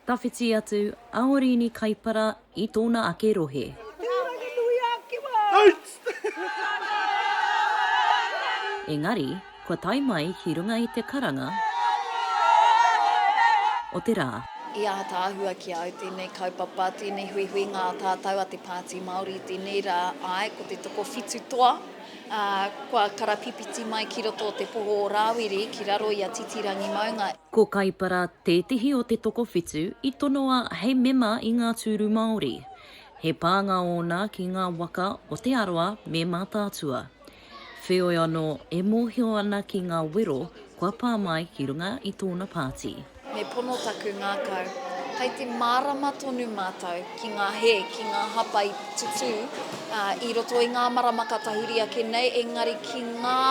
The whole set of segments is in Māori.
Tawhiti atu a Orini Kaipara i tōna ake rohe. Engari, kua tae mai ki runga i te karanga o te rā. I ātaahua ki a au tēnei kaupapa, tēnei huihuinga a tātau a te Pāti Māori i tēnei rā, āe, ko te tokowhitu toa. Ā, kua karapipiti mai ki roto o te poho o Rāwiri ki raro i a Titirangi maunga. Ko Kaipara tētehi o te tokowhitu i tonoa hei mema i ngā tūru Māori. He pānga ōna ki ngā waka o Te Arawa me Mātaatua. Wheoi anō e mōhio ana ki ngā wero kua pā mai ki runga i tōna pāti. Me pono taku ngākau. Kai te mārama tonu mātou ki ngā hē, ki ngā hapa i tutū i roto i ngā marama ka tahuri ake nei, engari ki ngā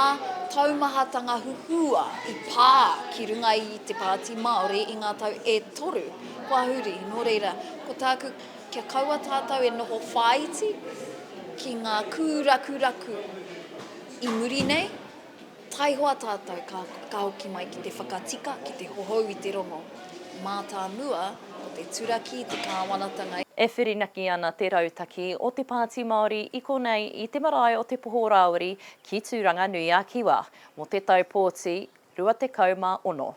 taumahatanga huhua i pā ki runga i te Pāti Māori i ngā tau e toru kua huri. Nō reira, ko tāku, kia kaua tātou e noho whāiti ki ngā kūrakuraku i muri nei, Taihoa tātou ka whakahoki mai ki te whakatika, ki te hohou i te rongo. Mātāmua, ko te turaki te kāwanatanga. E whirinaki ana te rautaki o te Pāti Māori i konei i te marae o Te Poho Rāwiri ki Tūranga-nui-a-Kiwa mō te tau pōti 26.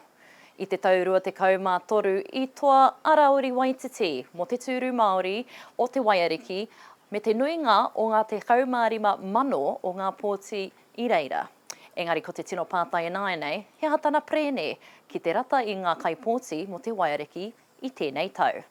I te tau 23 i toa a Rāwiri Waititi mō te tūru Māori o Te Waiariki me te nuinga o ngā 15,000 o ngā pōti i reira. Engari ko te tino pātai ināianei, he aha tana perēne ki te rata i ngā kaipōti mō te waiariki i tēnei tau?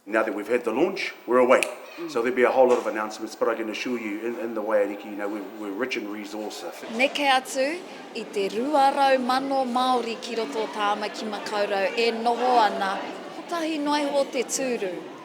Now that we've had the launch, we're away. So there'll be a whole lot of announcements, but I can assure you in in the waiariki, you know, we're we're rich in resource, I think. Neke atu i te rua rau mano Māori ki roto o Tāmaki Makaurau e noho ana, kotahi noa iho te tūru.